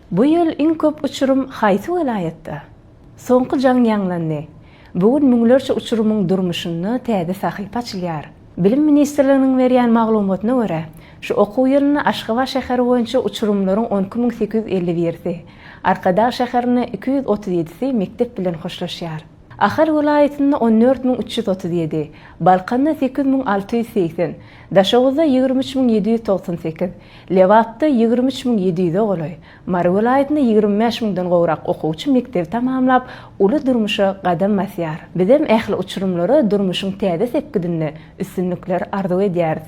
Bu ýyl iň köp uçurym haýsy welaýatda? Soňky jaň ýaňlandy. Bu gün müňlerçe uçurymyň durmuşynda täze sahypa açylýar. Bilim ministrliginiň berýän maglumatyna görä, şu okuw ýylynda Aşgabat şäheri boýunça uçurymlaryň on iki müň sekiz ýüz elli birisi, Arkadag şäherinde iki ýüz otuz ýedisi mekdep bilen hoşlaşýar. Ahal welaýatynda on dört müň üç ýüz otuz ýedi, Balkanda sekiz müň alty ýüz segsen, Daşoguzda ýigrimi üç müň ýedi ýüz togsan sekiz, Lebapda ýigrimi üç müň ýedi ýüze golaý, Mary welaýatynda ýigrimi bäş müňden gowrak okuwçy mekdebi tamamlap, uly durmuşa gadam basýar. Bizem ähli uçurymlara durmuşyň täze sepgidinde üstünlikler arzuw edýäris.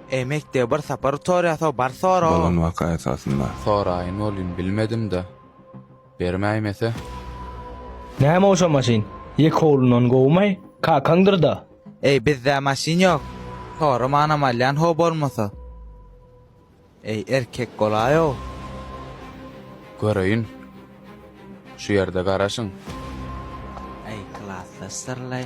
Eý mekdebe bir sapar utorýasa bar sora. Bolan waka esasynda. Soraýyn welin bilmedimda. Bermäýmese. Näme ol şo maşyn? Ýek howlundan gowumaý? Kakaňdyrda? Eý bizde maşyn ýok. Soramanam alýan ho bolmasa. Eý erkek bolaýow. Göreýin. Şu ýerde garaşyň. Eý klasdaş syrlaý.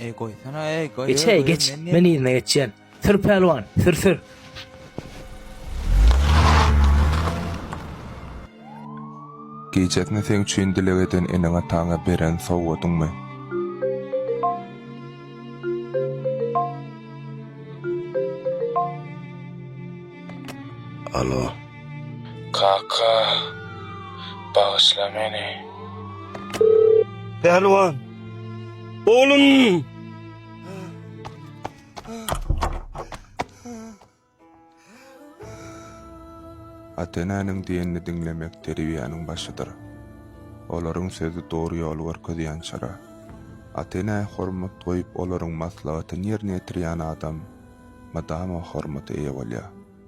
Ey goýsana ey goý. Geç ey geç. Men yzyna geçýän. Sür pälwan, sür sür. Gijesine seň üçin dileg eden eneň-ataňa beren sowgadyňmy? Alo. Kaka, bagyşla meni. Pälwan! Oglum! Ata-enäniň diýenini diňlemek terbiýäniň başydyr. Olaryň sözi dogry ýoly görkezýän çyra. Ata-enä hormat goýup olaryň maslahatyny ýerine ýetirýän adam mydama hormata eýe bolýar.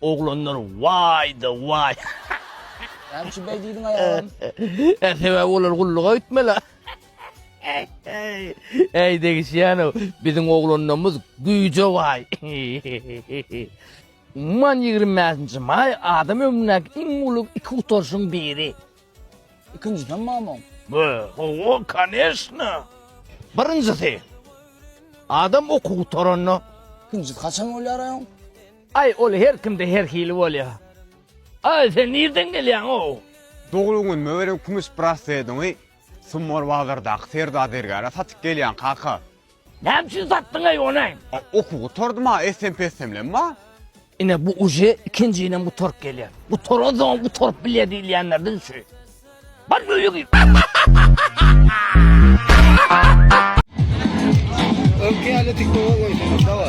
Oglanlar waýda waý. Näçe beý diýdiň aýalam. Hä sebäbi olar gulluga gitmeli. Äý degişýänow biziň oglanlarmyz güýje baý. Umuman ýigrimi bäşinji maý adam ömründäki iň uly iki gutaryşyň biri. Ikinjiden mamam. Be, owo, koneşna. Birinjisi, adam okuw gutaranda. Ikinjisi haçan bolýar aý oň? Aý, ol her kimde her hili bolýar. Aý, sen nirden gelýäň, ow? Doglan günüme beren kümüş braslediňi Summar bazardaky serda zergäre satyp gelýän, kaka. Näme üçin satdyň eý ony? A oky gutardy ma essem pessemlem ma. Ine bu uje ikinjinem gutaryp gelýär. Gutaransoňam gutaryp bilýär diýilýänlerden şu. Bar öýe gir. Öňki ýaly tiktoga goýsaňyz dawa.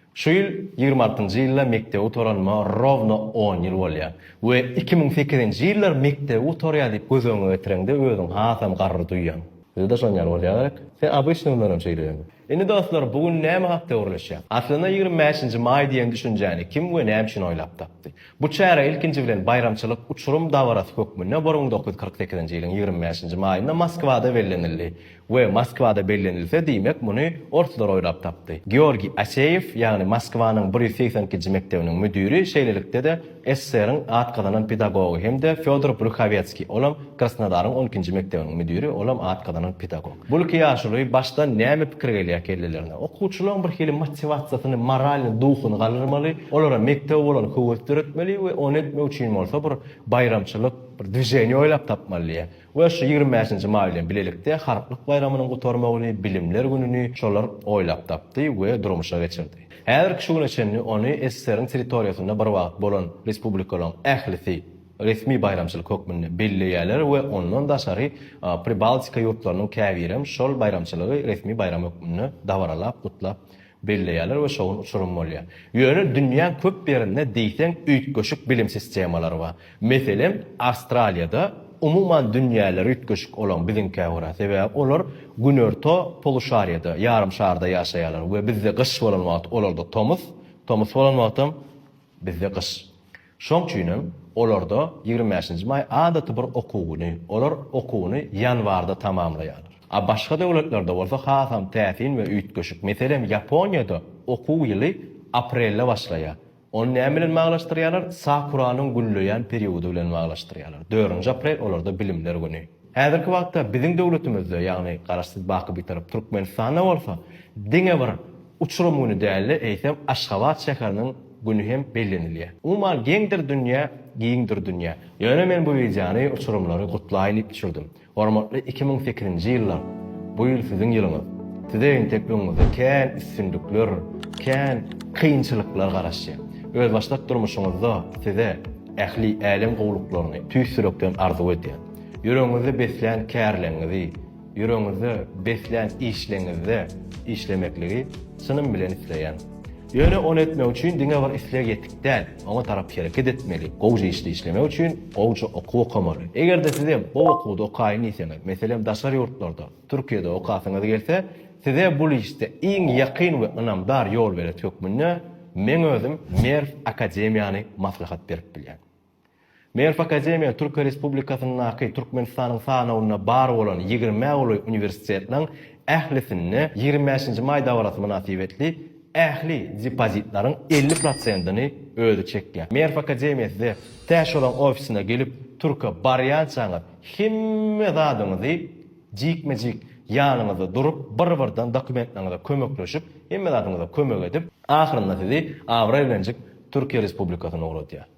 Şu ýyl ýigrimi altynjy ýylda mekdebi gutaranyma rowno on ýyl bolýar. We iki müň sekizinji ýyllar mekdebi gutarýar diýip göz öňüňe getireňde özüňi hasam garry duýýaň. Bizde şon ýaly bolýa gerek. Sen obyçny günlerem şeýle ýöne. Indi dostlar bu gün näme hakda gürleşýäs? Aslynda ýigrimi bäşinji maý diýen düşünjäni kim we näme üçin oýlap tapdy? Bu çäre ilkinji bilen baýramçylyk uçurym dabarasy hökmünde bir müň dokuz ýüz kyrk sekizinji ýylyň ýigrimi bäşinji maýynda Moskwada bellenildi. We Moskwada bellenilse, diýmek, muny orslar oýlap tapdy. Georgiý Aseýew, ýagny Moskwanyň bir ýüz segsen ikinji mekdebiniň müdiri, şeýlelikde-de SSR-iň at gazanan pedagogy hem-de Fýodor Bruhawetskiý, olam Krasnodaryň on ikinji mekdebiniň müdiri, olam at gazanan pedagog. Bul iki ýaşuly başdan näme pikir gelýär kellelerine? Okuwçylaryň bir hili motiwasiýasyny, moralny duhuny galdyrmaly, olara mekdebe bolan höwes döretmeli we ony etmek üçin bolsa bir baýramçylyk, bir dwiženiýe oýlap tapmaly diýýär. We şu ýigrimi bäşinji maý bilen bilelikde Halklyk baýramynyň gutarmagyny, Bilimler gününi şolar oýlap tapdy we durmuşa geçirdi. Häzirki şu güne çenli ony SSR-iň territoriýasynda bir wagt bolan respublikalaryň ählisi resmi baýramçylyk hökmünde belleýärler we ondan daşary Pribaltika ýurtlarynyň käbirem şol baýramçylygy resmi baýram hökmünde dabaralap gutlap belleýärler we şowly uçurym bolýar. Ýöne dünýäň köp ýerinde diýseň üýtgeşik bilim sistemalary bar. Meselem, Awstraliýada umuman dünýäleri üýtgeşik olaň biziňkä görä, sebäbi olar günorta poluşariýada, ýarym şarda ýaşaýarlar we bizde gyş bolan wagty olarda tomus, tomus bolan wagtam bizde gyş. Şoň üçin hem olarda ýigrimi bäşinji maý adaty bir okuw güni. Olar okuwyny ýanwarda tamamlaýarlar. A başga döwletlerde bolsa hasam täsin we üýtgeşik. Meselem, Ýaponiýada okuw ýyly aprelde başlaýar. Ony näme bilen baglanyşdyrýarlar? Sakuranyň gülleýän periody bilen baglanyşdyrýarlar. Dördünji aprel olarda bilimler güni. Häzirki wagtda biziň döwletimizde, ýagny Garaşsyz, baky Bitarap Türkmenistanda bolsa diňe bir uçurym güni däl-de, eýsem Aşgabat şäheriniň, güni hem bellenilýär. Umuman geňdir dünýä, giňdir dünýä. Ýöne men bu wideony uçurymlary gutlaýyn diýip düşürdim. Hormatly iki müň sekizinji ýyllar, bu ýyl siziň ýylyňyz. Size entek öňüňizde kän üstünlikler, kän kynçylyklar garaşýar. Özbaşdak durmuşyňyzda size ähli älem gowluklaryny tüýs ýürekden arzuw edýän. Ýüregiňizde beslän kärleriňizi, Ýüregiňizde beslän işleňizde işlemekligi çynym bilen isleýän. Ýöne ony etmek üçin diňe bir isleg ýetik däl, oňa tarap hereket etmeli. Gowja işde işlemek üçin gowja okuw okamaly. Eger-de sizem gowy okuwda okaýyn diýseňiz, meselem daşary ýurtlarda, Türkiýede okasyňyz gelse, size bul işde iň ýakyn we ynamdar ýolberet hökmünde meň özüm Merw akademiýany maslahat berip bilýän. Merw akademiýa Türkiýe Respublikasyndaky Türkmenistanyň sanawynda bar bolan ýigrimä golaý uniwersitetiň ählisinde ýigrimi bäşinji maý dabarasy mynasybetli ähli depozitleriň elli prosentini özi çekýär. Merw akademiýa size tä şolaň ofisine gelip türke barýançaňyz hemme zadyňyzy jikme-jik ýanyňyzda durup bir-birden dokumentleriňize kömekleşip hemme zadyňyza kömek edip ahyrynda sizi abraý bilenjik Türkiýe Respublikasyna ugradýar.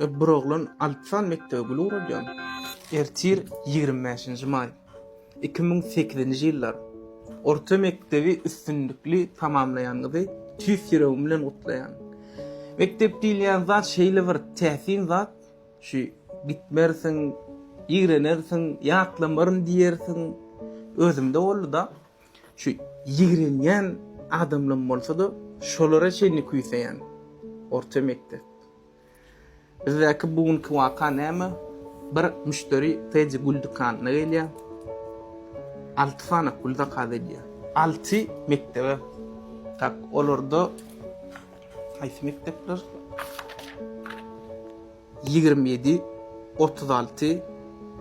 Bir oglan Alpsan mekdebe gül guralýan. Ertir, ýigrimi bäşinji maý, iki müň sekizinji ýyllar, orta mekdebi üstünlikli tamamlaýanyňyzy tüýs ýüregim bilen gutlaýan. Mekdep diýilýän zat şeýle bir täsin zat, şu gitmersiň, ýigrenersiň, ýatlamaryn diýersiň. Özümde boldy-da, şu ýigrenýän adamlam bolsa-da, şolara çenli küýseýän orta mekdep. Bizdäki bu günki waka näme? Bir müşderi Teddy gül dükanyna gelýär. Alty sany gül zakaz edýär. Alty mekdebe. Tak, olarda haýsy mekdepler? Ýigrimi ýedi, otuz alty,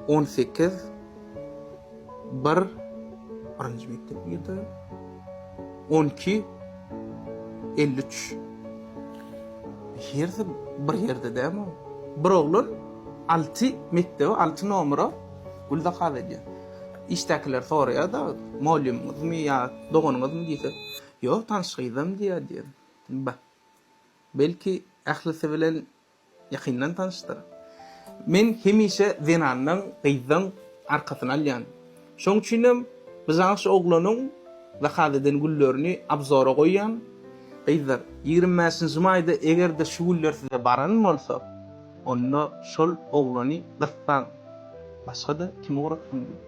on sekiz. Bir, birinji mekdep ýerde. On iki, elli üç. Hersi bir ýerde dämi? Bir oglan alty mekdebe, alty nomera gül zakaz edýär. Işdäkiler soraýar-da, Mugallymyňyzmy ýa doganyňyzmy diýse, Ýok, tanyş gyzam diýýär diýen. Ba, belki, ählisi bilen Ýakyndan tanyşdyr. Men hemişe zenandan, gyzdan arkasyny alýan. Şoň üçinem byjaňyş oglanyň zakaz eden güllerini abzora goýýan. Gyzlar, ýigrimi bäşinji maýda eger-de şu güller size baran bolsa, onda şol oglany gyssaň, başga-da kim ugratsyn diýip.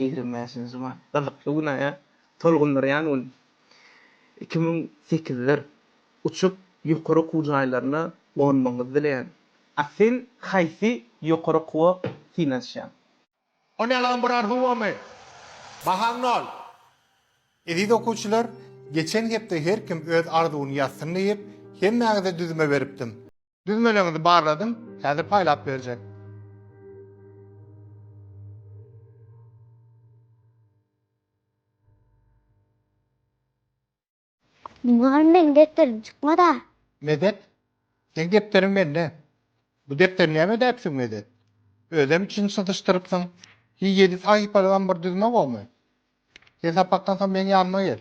ýigrimi bäşinji mart, gyzykly günä tolgundyrýan gün. Iki müň sekizler uçup, ýokary okuw jaýlaryna gonmagyňyzy dileýän. A sen haýsy ýokary okuwa synanyşýaň? O nälaň bir arzuwamy? Bahaň nol. Eziz okuwçylar, geçen hepde her kim öz arzuwyny ýazsyn diýip, hemmäňize düzme beripdim. Düzmeleňizi barladym, häzir paýlap berjek. Mugalym meniň depderim çykmada. Medet, seň depderiň mende. Bu depderi näme edäpsiň Medet? Özem içini syzyşdyrypsyň. Hi ýedi sahypalygam bir düzme gomy? Sen sapakdan soň meň ýanyma gel.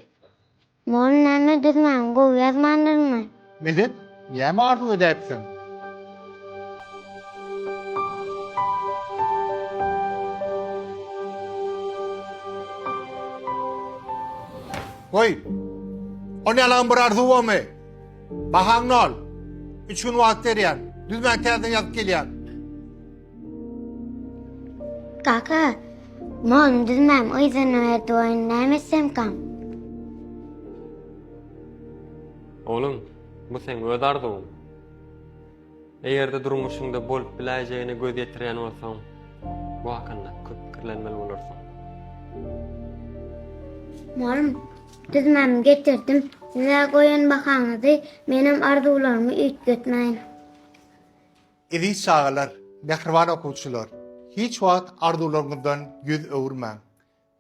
Mol näme düzmän, gowy ýazmandyrmy? Medet, näme arzuw edäýipsiň? Goý, ony ýalagam bir arzuw bolmy? Bahaňny al. Üç gün wagt berýän. Düzmän täzeden ýazyp gelýän. Kaka, molum düzmem, yzyny berdi oýun, näme etsemkam? Oglum, bu seň öz arzuwyň. Eger-de durmuşyňda bolup biläýjegine göz ýetirýän bolsaň, bu hakynda köp pikirlenmeli bolarsyň. Molum, düzmemi getirdim. Siz-ä goýan bahaňyzy, menem arzuwlarymy üýtgetmäýin. Eziz çagalar, mähriban okuwçylar! Hiç wagt arzuwlaryňyzdan ýüz öwürmäň.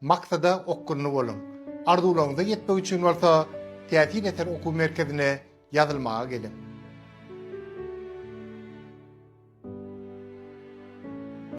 Maksada okgunly boluň. Arzuwlaryňyza ýetmek üçin bolsa Täsin eser okuw merkezine ýazylmaga geliň.